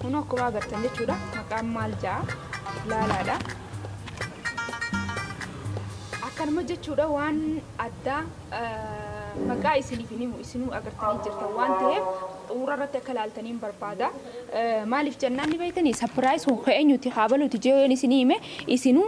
Kun akkuma agartan jechuudha. Maqaan maal ja'a? Laalaadha. Akkanuma jechuudha waan addaa Maqaa isiniif hin himu, isinuu agartanii jirtan waan ta'eef xumura irratti akka ilaaltaniin barbaada. Maaliif jennaan ni beektanii sapiraayis kun ka eenyuti haa baluuti jeeyoon isinii hime isinuu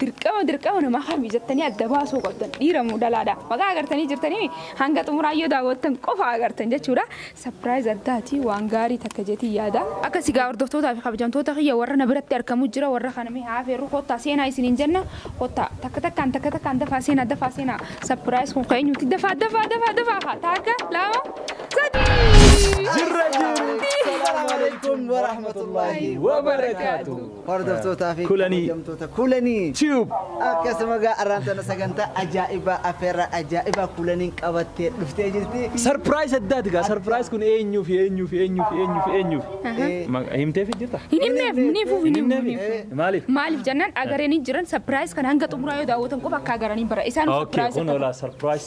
dirqama dirqama namaa kami jettanii adda baasuu qabdan dhiira moo dalaadha. Maqaa agartanii jirtanii hanga xumuraa yoo daawwattan qofa agartan jechuudha. Surprise addaati waan gaarii takka jetiin yaada. Akkasi gaa hordoftootaa fi kabajamtoota kiyya warra na biratti argamu jira warra kana mee haa afeerru kottaa seenaa isiniin jenna kottaa takka takkaan takka takkaan dafaa seenaa dafaa seenaa surprise kun ka eenyuuti dafaa dafaa dafaa dafaa haa taakka lama sadii. Jirra jirra. Salaam alaikum wa rahmatullahi wa barakaatuh. Hordoftootaa fi Kulanii. kabajamtoota kulanii Tube. akkasuma gaa arraan tana sagantaa ajaa'ibaa affeerraa ajaa'ibaa kulaniin qabattee dhuftee jirti. Sarpiraayis addaati gaa sarpiraayis kun eenyuufi eenyuufi eenyuufi eenyuufi eenyuufi. Eh, Ma- Himteefi jirta? Hin himneef, hin hifuuf, hin himuuf, hin himuuf. Eh, Maaliif? Maaliif jennaan agaranii jiran sapiraayis kan hanga xumuraa yoo daawwatan qofa akka agaranii bara. Isaan Okay, sapiraayis kun akka olaa sarpiraayis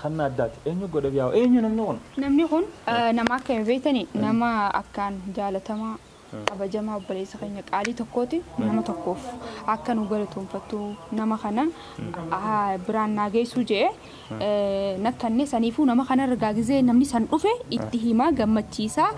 Kanna addaati. Eenyu godhef yaa eenyu namni kun? Namni kun nama akkami beektani? Nama akkaan jaalatamaa, kabajamaa obboleessa keenya qaalii tokkooti. Nama tokkoof akka nu galatoomfattu nama kana biraan naa geessuu je'ee na kanne. Saniifuu nama kanarra gaa gizee namni san dhufe itti himaa gammachiisaa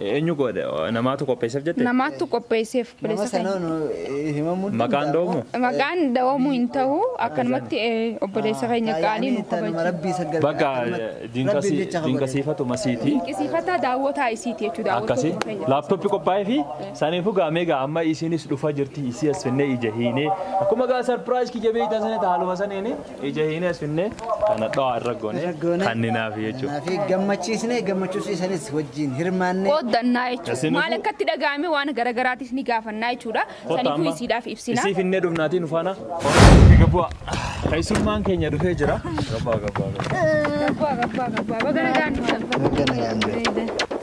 Eenyu godhe? Namaatu qopheesseef jette? Namaattu qopheesseef Nama obboleessa keenya. sanaan eh, himamuu hin Maqaan danda'amu. dhoomuu? Maqaan dhawamuu hin ta'u akkanumatti eh, obboleessa keenya qaalii nu Taayyaanii tanuma kabaja. rabbii isa gargaara. Bakka Akkanumatti rabbiif diinqasii- jecha kabaja. diinqasiifatu masiiti. Dinqisiifataa daawwataa isiiti jechuudha. Akkasi daawwattoota keenya. laaptooppii qophaa'ee fi saniifuu gaamee gaa amma isiinis dhufaa jirti isii as finnee ija hiinee akkuma gaa sarpiraayis kiyya beektan sana haaluma saniini Ija hin asfinne kana dho'aa irra goone kanninaaf jechuudha. Fi gammachiisnee gammachuusiisanis wajjin hirmaanne. Qooddannaa jechuudha. Isinifuu- Maal akka itti dhaga'ame waan garaagaraatis ni gaafannaa jechuudha. Kottaa Saniifuu amma isiidhaaf ibsina. isii finnee dhufnaatii nu faana hordofaa gabbaa. Keessummaan keenya dhufee jira. Gabbaa gabbaa gabbaa. Gabbaa gabbaa gabbaa baga nagaan dhuftan. Baga nagaan dhuftan.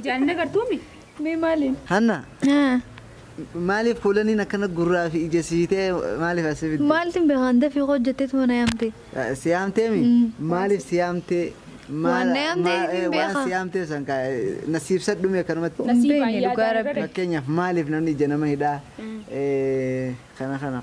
Ijaan hin agartuumi? Mee maaliin? Hanna maaliif kuulaniin akkana gurraa fi ija sii ta'e maaliif as si fidde? Maaltin beekaan dafii koo jetteetu mana yaamte. Si yaamtee mi? Maaliif si yaamtee? Waan na yaamte hin Waan beekaa. si yaamtee san kaa na si ibsadhu mee akkanumatti. Hin beekne dhugaa rabbi. Fakkeenyaaf maaliif namni ija nama hidhaa? Eh, Kana kana.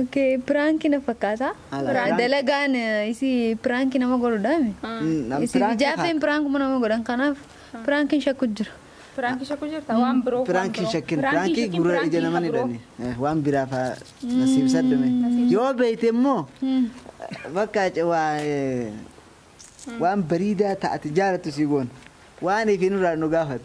Ok prank na fakkaata. Ala, Prank. Dalagaan isii prank nama godhudha mi? Nam Isii prank jaaffeen fakkaata. prankuma nama godhan kanaaf prankin shakku jira. Piraanki shakku jirta waan biroo. Piraanki hin shakkin. Piraanki gurra ija naman hidhani. Eh, Waan biraa faa nasiib saddume. Yoo beeyte immoo bakka ce- waa eh, waan bariidaa taate jaalattu sii goon. Waan ifi nurraa nu gaafatu.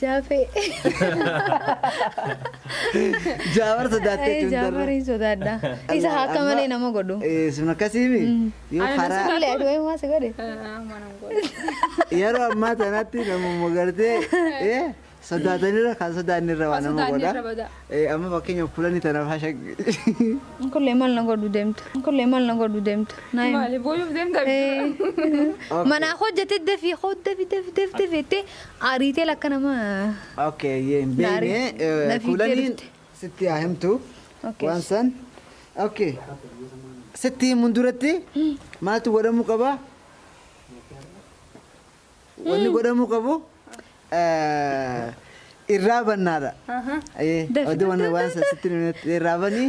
Jaafee. Jaawar sodaattee Ee, tun darra. Jaafariin sodaadha. Isa Amma- akka malee nama godhu. Eh, Sun akkasiimi. Yoo Ani karaa sodaa- Duulee aduu eegumaa si godhe. yeroo ammaa tanatti namuma gartee eh, sodaatanirra kan sodaannirra waan nama godha. Eh, Amma fakkeenyaaf kulanii tanaaf hasha. Kullee maal na godhu deemtu. Kullee maal na godhu deemtu. Naa himi. Maali booyuuf deemta? Ee. Manaa hojjete dafi hoo dafi dafi dafi dafi itti Aariitee lakka nama Ok ayyee hin na beeyne ari- na fiigdee kuulaniin dhufte. sitti haa himtu Ok. waan san ok sitti himuun duratti maaltu godhamuu qaba wanni godhamuu qabu eh, irraa bannaadha Ahaa. Ayyee, Dafi- oduu waan waan san sitti hin himnetti irraa banii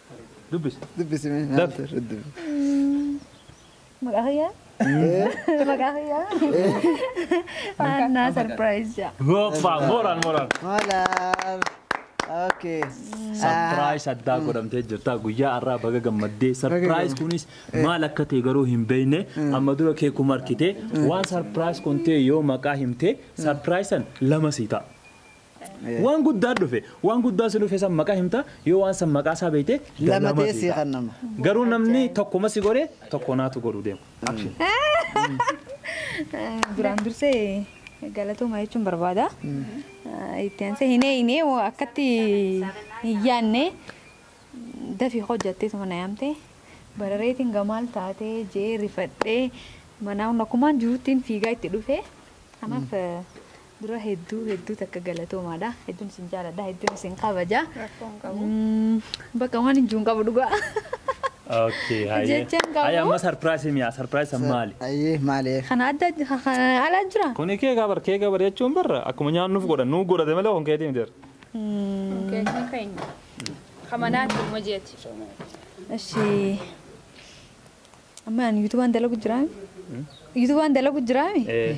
Dubbisi. Dubbisi mee Daf. nyaata irra dubbisi. Maqaa kiyyaa? Maqaa kiyyaa? Annaa sarpiraayiz jaa. Goofaa mooraan mooraan. Moolaar. Okay. Sarpiraayis addaa godhamtee jirta guyyaa har'aa baga gammaddee sarpiraayis kunis maal akka ta'e garuu hin beekne amma dura kee kuma argite waan sarpiraayis kun ta'e yoo maqaa himte sarpiraayisan lama sii ta'a. Waan guddaa dhufe. Waan guddaa si dhufe san maqaa himta, yoo waan san maqaa isaa beekte da Lama lama ta'ee sii sii ta'a. kennama. Garuu namni Ajaa'iba. tokkuma si godhe tokko naatu godhu deema. Action. Duraan dursee galatooma jechuun barbaada. Itti aansee hinee hinee hoo akkatti hin yaadne dafii hojjattee suma na yaamte barareetiin gamaal taatee jee rifadhee manaa hundakumaan jiruttiin fiigaa itti dhufe. Kanaaf Dura hedduu hedduu takka galatoomaadha. Hedduun isin jaaladha. Hedduun isin kabaja. Rakkoo hin qabu. Mm, Bakka waan hin jiru hin qabu dhugaa. Okay, haye. Jecha hin qabu. Haye, amma sarpiraayisii mi'a? Sarpiraayisii san maali? Ayyee maali? Kana adda kana ala jira. Kuni kee gabar kee gabar jechuun barra akkuma nyaannuuf godhan nuu godhate malee kan keetii miti. Keenya keenya. Kamanaati ilma jeeti. Eshi. Amma ani yuutuubaan dalagu jiraami. Yuutuubaan dalagu jiraami. Eh,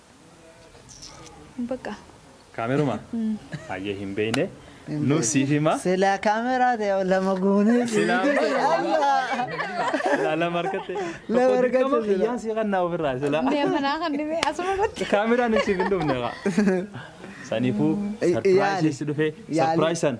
Baqa. Kaameruma? Hayyee hin beeyne. Nuuf siif hima. Silaa kaameraa ta'e lama goonee Silaa Silaa lama argatte. Lama Tokko argatte dirqama silaa. kiyyaan sii kannaa ofirraa silaa. Mee manaa kan dhibee asuma irratti. Kaameraan hin siif hin dhufne kaa. Saniifuu Yaali. sarpiraayisii si dhufe Yaali. sarpiraayis san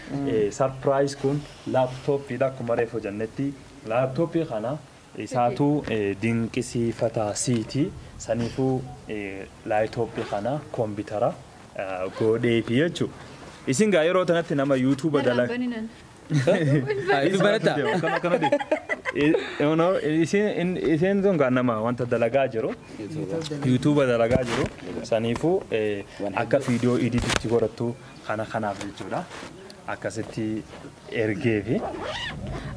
Surprise kun laptop dha akkuma reefu jennetti laptop kana isaatu dinqisiifata siiti saniifuu laptop kana kombitara goodheefi jechu isin gaa yeroo tanatti nama youtube dalag isin sun gaa nama wanta dalagaa jiru youtube dalagaa jiru saniifuu akka video edit itti godhattu Kana kanaaf jechuudha. Akkasitti ergeefi.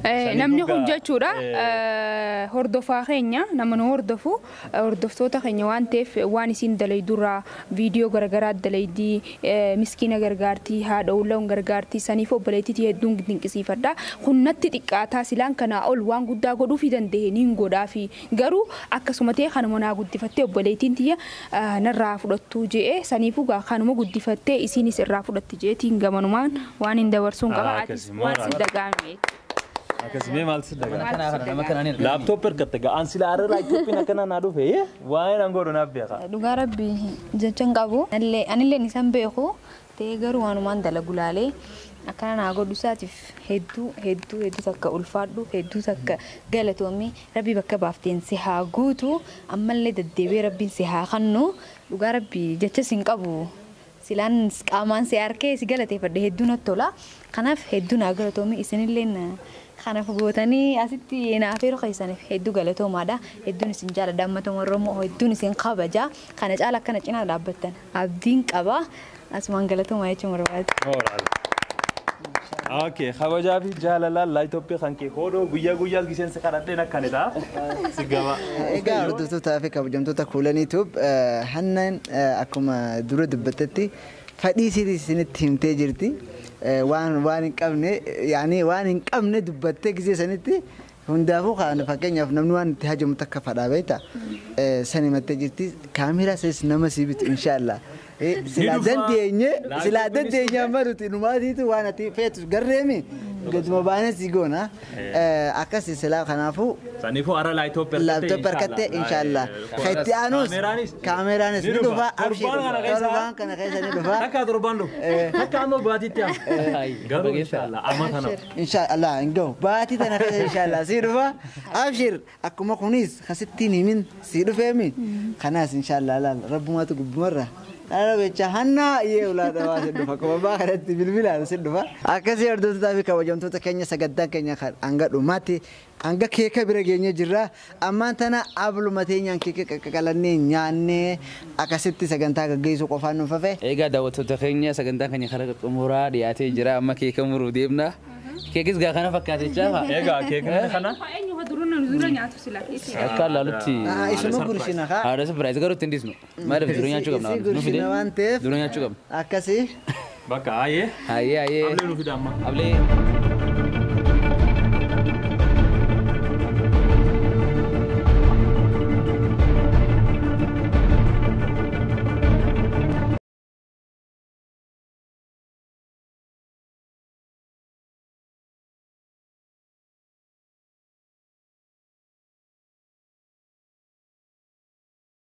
Eh, namni kun jechuudha eh, hordofaa keenya nama nu hordofu eh, hordoftoota keenya waan ta'eef waan isiin dalaydurraa viidiyoo garagaraa dalaydii eh, miskiina gargaartii haadha ulloon gargaartii saniif obboleettiitii hedduun dinqisiifadha kun natti xiqqaataa silaan kanaa ol waan guddaa godhuufi danda'e niin godhaafi Garuu akkasuma ta'ee kanuma naa guddifattee obboleeytiin tiyya narraa haa fudhattuu je'e saniifuu gaa kanuma guddifattee isiinis irraa fudhatti je'eetiin gamanumaan waaniin dabarsuun qaba atis maal si dagaame Akkas mee maal si Nama dagaame? kanaa kana nama kanaa ni argina. Laaptooppi hirkatte gaa an sila arra laaptooppiin akkana naa dhufe yee waa'een an godhu naaf beeka. Dhugaa rabbi jecha hin qabu. Anillee- Anilleen isan beeku Ta'ee garuu waanumaan dalagu laalee akkana naa godhu isaatiif hedduu hedduu hedduu takka ulfaadhu hedduu takka galatoomi rabbi bakka baafteen si haa guutu ammallee daddeebi'ee rabbiin si haa kannu dhugaa rabbi jecha sin qabu silaan qaamaan si arkee si galateeffadhe hedduu natti tola kanaaf hedduu naa galatoomi isinillee na kanaaf gootanii asitti naaf yeroo keessaniif hedduu galatoomaadha hedduun isin jaaladha ammata warromoo hedduun isin kabaja kana caala akkana cinaa dhaabbattan. abdiin qaba. Asumaan galatoomaa jechuun barbaada. Moral. Okay, kabajaa fi jaalalaan laayitooppii kan kee hoodoo guyyaa guyyaas gisheen si kadhadheen akkani ta'a. Si gaba. Egaa hordoftoota fi kabajamtoota kuulanii tuub hannaan akkuma dura dubbattetti fadhii sirii isinitti himtee jirti. Waan waan hin qabne yaani waan hin qabne dubbattee gisee sanitti Hundaafuu kaan fakkeenyaaf namni waan itti hajamu takka fadhaa beekta san himattee jirti kaameeraa sanis nama sii bitu inshaallaa silaa dandeenye silaa dandeenye amma nuti numaatiitu waan ati feetu garreemi gaduma baanee sii goona akkasi silaa kanaafuu Saniifuu ara laayitooppi arkattee laaptoopi arkattee inshaallaa ka itti aanuus Kaameeraanis kaameeraanis ni dhufa abshiir Torbaan kana keessa- torbaan kana keessa ni dhufa Takka torbaan dhufu. Takka amma baatiitti amma. Garuu inshaallaa amma kana. Inshaa Allaah hin gahu baatii tana keessa inshaa Allaah sii dhufa abshir akkuma kuniis ka sitti hin himin sii dhufeemi kanaas inshaa Allaah laal rabbumaatu gubbumarra kana becha hannaa yee ulaa dhawaa sin dhufa akkuma abbaa kanatti bilbilaan sin dhufa akkasii hordoftotaa fi kabajamtoota keenya sagantaan keenya kan hanga dhumaatti Hanga keeka bira geenye jirra. Ammaan tana abluma teenyaan keeka qaqaqalannee nyaannee akasitti sagantaa gaggeessuu qofaan nuuf hafe. Eegaa daawwattoota keenya sagantaan keenya karaa xumuraa dhiyaatee jira. Amma keeka muruuf deemna. Keekis gaa kana fakkaatechaa kaa. Eegaa keekni kana. Haa eenyu haa dura nyaatu sila. Akkaan laalutti. Isuma gursina kaa. Haadha surprise garuu ittiin dhiisnu. Maaliif dura nyaachuu qabna Isii waan nu fide gursina waan ta'eef dura nyaachuu qabna. akkasii. Bakka haayee. Haayee haayee. Ablee nu fida amma. Ablee.